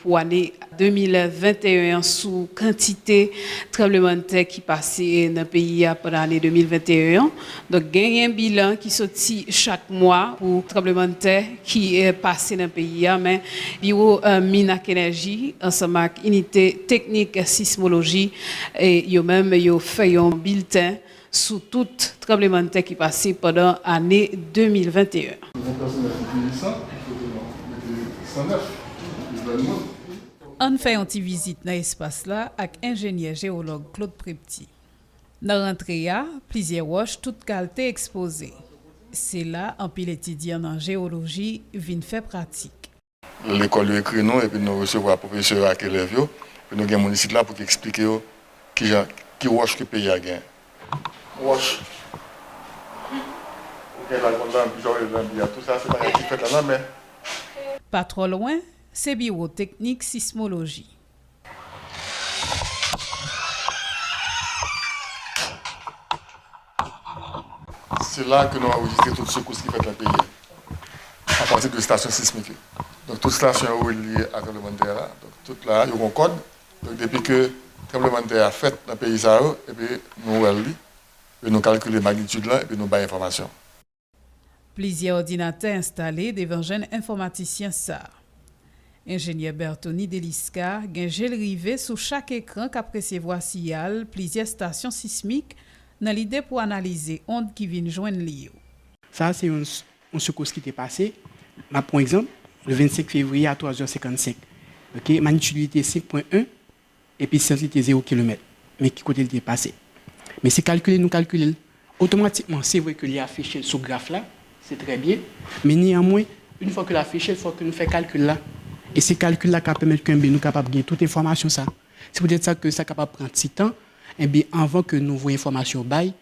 pou ane 2021 an sou kantite tranblemanntè ki pase nan peyi a pandan ane 2021 an. Donk genyen bilan ki soti chak mwa pou tranblemanntè ki pase nan peyi a men biwo min ak enèji ansanm ak inite teknik sismoloji yo menm yo fè yon bilten sou tout tranblemann'tè ki pase pandan ane 2021. Yon pèsonaj enteresan ki foto nan Mete 109, Yvonne Monde. Ann fè yon ti vizit nan espas la ak enjenyè jewològ Claude Prepty. Nan rantre a, plizyè wòch tout kalte ekspoze. Se la anpil etidyan nan jewoloji vin fè pratik. Lekòl yo ekri nou epi nou resevwa pwofesè yo ak elèv yo, epi nou gen moun isit la pou ki eksplike yo ki jan, ki wòch ke peyi a gen. Wòch ou gen la, kon lanbi, jan w rele lanbi a, tou sa se bagay ki fèt la lanmè. Pa twò lwen, se Biwo Teknik Sismoloji. Se la ke nou anrejistre tout sekous ki fèt nan peyi a, apati de stasyon sismik yo. Donk tout stasyon yo relye a tranblemann tè a, donk tout la a yo gon kòd, donk depi ke tranblemann tè a fèt nan peyi sa yo, epi nou wè li, epi nou kalkile magnitude lan, epi nou bay enfòmasyon. Plizyè òdinatè enstale devan jenn enfòmatisyen sa. Enjenyè Berthony Delisca gen je l rive sou chak ekran k ap resevwa siyal plizyè stasyon sismik nan lide pou analize ond ki vin jwenn li yo. Sa a se yon yon sekous ki te pase. M ap pran yon egzanp, le 25 fevriye a 3 zè 55, ok, magnitude li te 5.1. Episantre li te zero kilomèt. Men ki kote li te pase. Men se kalkile nou kalkile l, otomatikman se vre ke li afiche l sou graf la, se trè byen, men neyanmwen, yn fwa ke l afiche l, fò ke nou fè kalkil la. E se kalkil la k ap pèmèt ke nou kapab gen tout enfòmasyon sa. Se poutèt sa ke sa kapab pran ti tan, enben anvan ke nouvo enfòmasyon bay,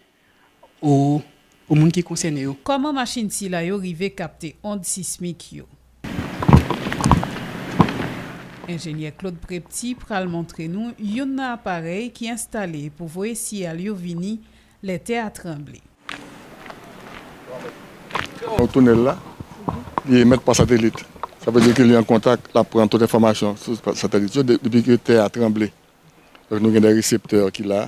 ou pou moun ki konsène yo. Kòman machin sila yo rive kapte ond sismik yo? Enjenyè Claude Prepty pral montre nou youn nan aparèy ki enstale pou voye siyal yo vini lè tè a tranble. Yon tounèl la, li emèt pa satelit. Sa vle di ke li an kontak, l ap pran tout enfòmasyon sou satelit yo depi ke tè a tranble. Donk nou gen de reseptè ki la,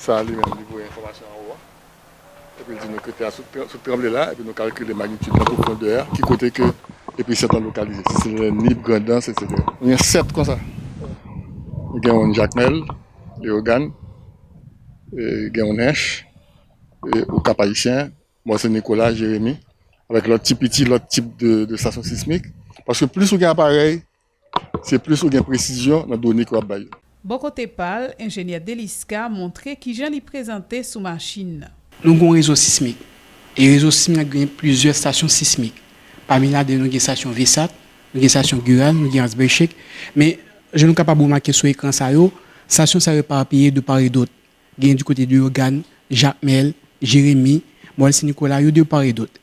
Sa li menm li voye enfòmasyon anwo a epi l di nou ke tè a sot tranble la epi nou kalkile magnitid nan pwofondè a ki kote ke episant lan lokalize si se nan Nip, Grandans etc. Nou gen 7 konsa nou gen youn Jakmèl, Leyogàn, gen youn Ench, ou Kap Ayisyen, Mòn Sen Nikola, Jeremi avèk lòt ti piti lòt tip de stasyon sismik paske plis ou gen aparèy Se plis ou gen presizyon nan done ke w ap bay yo. Bò kote pa l, enjenyè Delisca montre kijan li prezante sou machin nan. Nou gen yon rezo sismik. E rezo sismik la gen plizyè stasyon sismik. Pami ladan yo nou gen stasyon Vsat, nou gen stasyon Gural, nou gen Ansbèchek. Men, jan nou kapab remake sou ekran sa yo, stasyon sa yo eparpiye de par e dot. Genyen di kote Leyogàn, Jakmèl, Jeremi, Mòl Sen Nikola, yo de par e dot.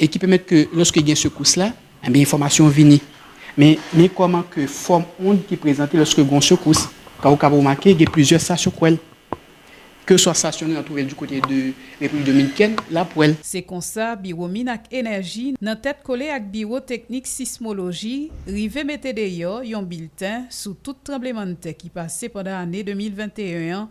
e ki pèmèt ke lòske gen sekous la, enben enfòmasyon vini. Men, men kòman ke fòm ond ki prezante lòske gen yon sekous, ka ou kab remake gen plizyè stasyon k wè l. Kèlkeswa stasyon nou an twouve l di kote de Repiblik Dominikèn, l ap wè l. Se konsa, Biwo Min ak Enèji, nan tèt kole ak Biwo Teknik Sismoloji, rive mete deyò yon bilten sou tout tranblemann tè ki pase pandan ane 2021 an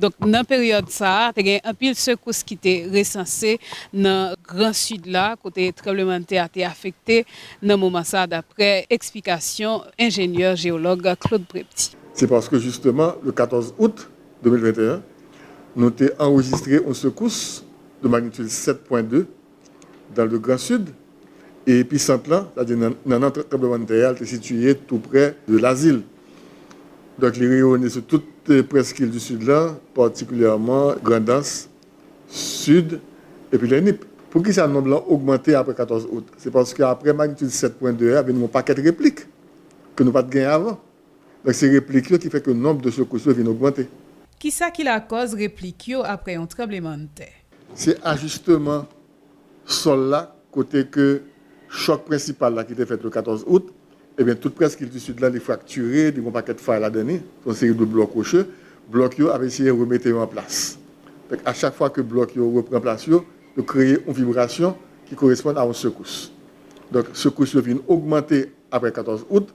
Donk, nan peryòd sa a, te gen anpil sekous ki te resanse nan Gran Sid la, kote tranblemanntè a te afekte nan moman sa a, daprè eksplikasyon enjenyè jewològ Claude Prepti. Se paske jisteman, le 14 out 2021, nou te anrejistre yon sekous de magnitude 7,2 Dans le Grand Sud, e episant lan, sa di nannan tranblemann tè a, te sitiye tou prè de Lazil. Donk li reyone sou tout prèskil du Sud lan, patikilyèman Grandans, Sud, epi lè Nip. Poukisa nonb lan ogmante apre 14 out? Se paske apre magnitude 7.2 a vin gen yon pakèt replik ke nou pat gen avan. Donk se replik yo ki fè ke nonb de sekous yo vin ogmante. Kisa ki lakòz replik yo apre yon tranblemanntè? Se ajisteman sòl la kote ke chòk prensipal la ki te fèt le 14 out, ebyen tout près kilti sid la li fraktire, li gen yon pakèt fay ladan li, se yon seri de blòk woche, blòk yo ap eseye remete yo an plas. Donk a chak fwa ke blòk yo repran plas yo, yo kreye yon vibrasyon ki koresponn a yon sekous. Donk sekous yo vin ogmante apre 14 out,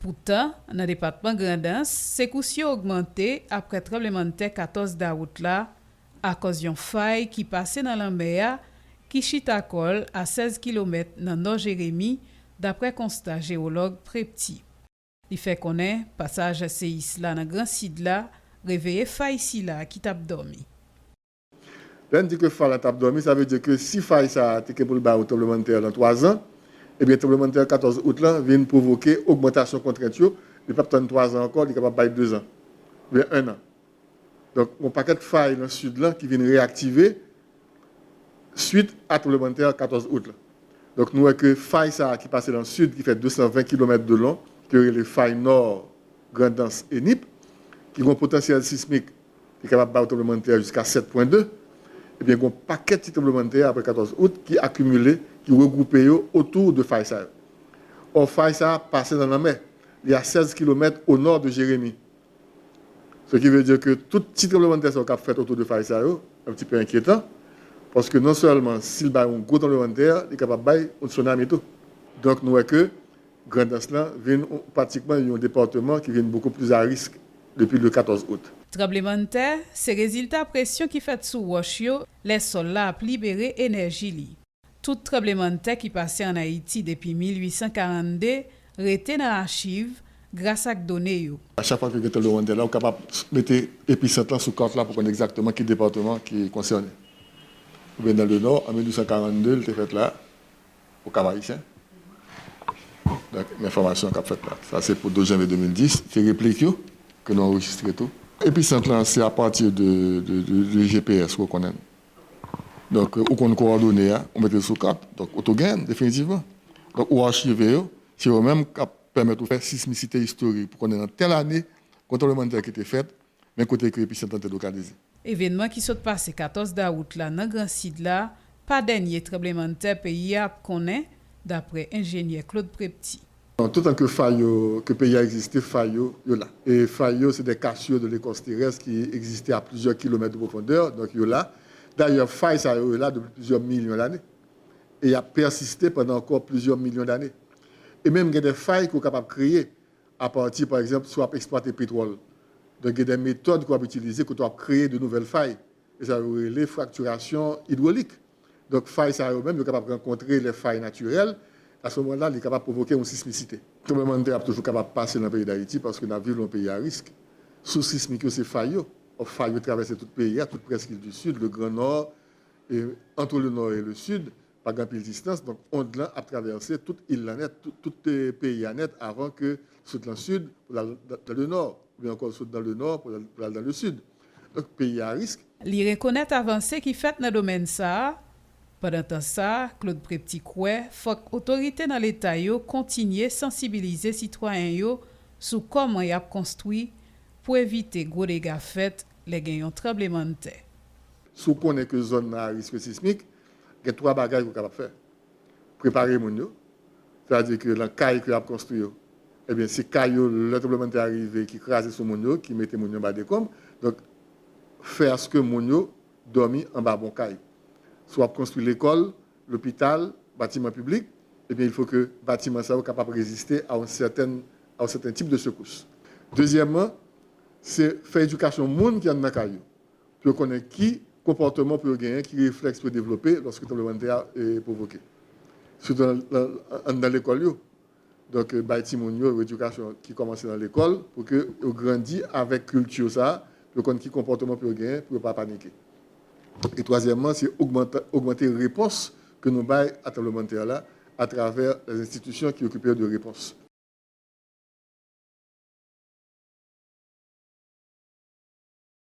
Poutan, nan depatman Grandans, sekous yo ogmante aprè tranblemann tè 14 dawout la akòz yon fay ki pase nan lanmè a ki chita kò l a 16 kilomèt nan nò Jeremi, daprè konsta jewològ Prepti. Li fè konnen pasaj seyis la nan Gran Sid la reveye fay sila ki t ap dòmi. Lè n di ke fay la t ap dòmi, sa vle di ke si fay sa a te gen pou l bay yon tranblemann tè lan 3 zan, ebyen tranblemann tè 14 out lan vin pwovoke ogmantasyon kontrent yo, li p ap tann 3 zan ankò, li kapab bay 2 zan, oubyen 1 an. Donk yon pakèt fay lan Sid lan ki vin reyaktive swit a tranblemann tè 14 out lan. Donk nou wè ke fay sa a ki pase lan Sid ki fè 220 kilomèt de long, ke yo rele fay nò Grandans e Nip, ki gen yon potansyèl sismik Li kapab ba ou tranblemanntè jiska 7 pwen 2. Ebyen gon pakèt ti tranblemanntè aprè 14 out ki akimile, ki regwoupe yo otou 2 fay sa yo. Or fay sa pase nan lanmè. Li a 16 kilomèt o nò de Jeremi. Se ki ve di ke tout ti tranblemanntè sa yo kap fèt otou 2 fay sa yo, yon ti pe enkyetan. Paske non sèlman si li bay yon gwo tranblemanntè, li kapab bay yon tsunami tou. Donk nou wè ke Grandans lan vin pratikman yon departeman ki vin beaucoup plus à risque depi le 14 août. Tranblemann tè se rezilta presyon ki fèt sou wòch yo lè sòl la ap libere enèji li. Tout tranblemann tè ki pase an Ayiti depi 1842 rete nan achiv gras ak done yo. A chak fwa ke gen tranblemann tè la ou kapab mete episant lan sou kart la pou konn egzakteman ki departeman ki konsène. Ou byen nan le nò an 1842 li te fèt la, pou kal Ayisyen. Donk men fòmasyon k ap fèt la. Sa se pou 12 janvye 2010. Se replik yo ke nou anrejistre tou. Episant lan se apati de GPS ke w konnen l. Donk ou konn kowòdone a, ou mete l sou kat, donk ou tou gen l definitivman. Donk ou achive yo, se yo menm k ap pèmèt ou fè sismisite istorik pou konnen nan tèl ane, kon tranblemann tè ki te fèt, Men kote ke episent lan te lokalize. Evenman ki sot pase 14 dawout la nan Gran Sid la pa dènye tranblemanntè peyi a ap konnen, dapre enjenyè Claude Prepti. Non, toutan ke fay yo, ke peyi a egziste, fay yo, yo la. E fay yo se de cassures de l'écorce terrestre ki egziste a plizyè kilomèt de pwofondè, donk yo la. Dayè, fay sa yo, yo la depi plizyè milyon lane. E y ap pèsiste pandan ankò plizyè milyon dane. E menm gen de fay ke w kapab kreye. apati pa egzanp si w ap eksplwate petwòl. Donk gen de metòd ke w ap itilize kote w ap kreye de nouvèl fay e sa yo rele fraktirasyon idwolik. Donk fay sa yo menm yo kapab rankontre lè fay natirèl, a se moman la li kapab pwovoke yon sismisite. Tranblemann tè ap toujou kapab pase nan peyi Dayiti paske n ap viv nan yon peyi a risk. Sous sismik yo se fay yo. Ò fay yo travèse tout peyi a, tout Prèskil di Sid, le Gran Nò e antre le Nò e le Sid. Pa gen anpil distans, donk ond lan ap travèse tout il lan nèt, tout peyi a nèt avan ke l sot lan sid pou l al dan le nò, oubyen ankò l sot dan le nò pou l al dan le sid. Donk peyi a arisk. Li rekonèt avanse ki fèt nan domèn sa a. Pandan tan sa, Claude Prepti kwè fòk otorite nan leta yo kontinye sansibilize sitwayen yo sou kòman y ap konstwi pou evite gwo dega fèt lè gen yon tranblemanntè. Si w konnen ke zòn nan arisk sismik, Gen twa bagay ke w kapab fè. Prepare moun yo, sètadi ke lan kay ke y ap konstwi yo, ebyen se kay yo lè tranblemanntè a rive ki kraze sou moun yo, ki mete moun yo anba dekonb. Donk, fè aske moun yo dòmi anba bon kay. Si w ap konstwi lekòl, lopital, batiman piblik, ebyen il fo ke batiman sa yo kapab reziste a yon sètèn, a yon sèten tip de sekous. Dezyèmman, se fè edikasyon moun ki andan kay yo. pou yo konnen ki konpòteman pou yo genyen, ki reflèks pou yo devlope lòske tranblemanntè a pwovoke. Sitou anndan lekòl yo. Donk bay timoun yo yon edikasyon ki kòmanse nan lekòl pou ke yo grandi avèk kilti sa a, pou yo konn ki konpòteman pou yo genyen pou yo pa panike. E twazyèmman, se ogmante repons ke nou bay a tranblemanntè la atravè lè enstitisyon ki okipe yo de repons.